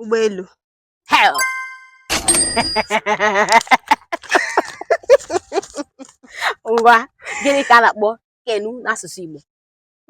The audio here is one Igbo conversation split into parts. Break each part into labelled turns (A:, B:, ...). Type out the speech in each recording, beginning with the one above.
A: ụgbọelu ee ngwa gịnị ka a na-akpọ canoe n'asụsụ Igbo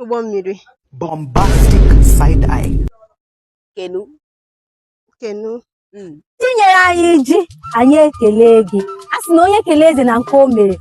A: ụgbọ mmiri bombastic side eye canoe canoe hmm. i nyere anyị ji anyị ekelee gị a sị na onye kelee eze na nke o mere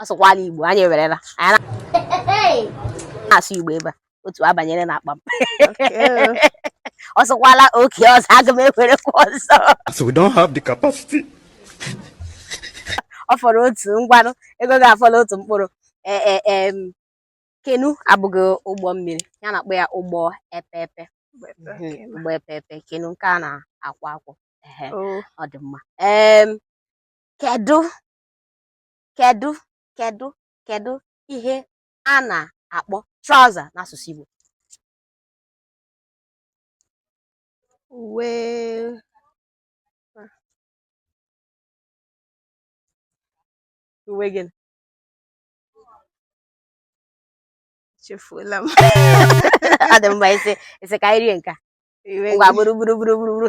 A: ọ sụkwala Igbo anyị ewerela anyị na-asụ Igbo ebe a otu abanyere n'akpa m ọ sụkwala oke ọzọ aga m ewerekwa ọzọ ọ fọrọ otu ngwanụ ego gị afọla otu mkpụrụ e, e, e, canoe abụghị ụgbọ mmiri ihe a na-akpọ ya ụgbọ epepe ụgbọ epepe canoe nke a na-akwọ akwọ ọ dị mma kedu kedu kedu kedu ihe a na-akpọ trouser n'asụsụ Igbo uwe uwe gịnị echefuola m ọ dị mma ise ise ka anyị rie nke a Uga buru buru buru buru.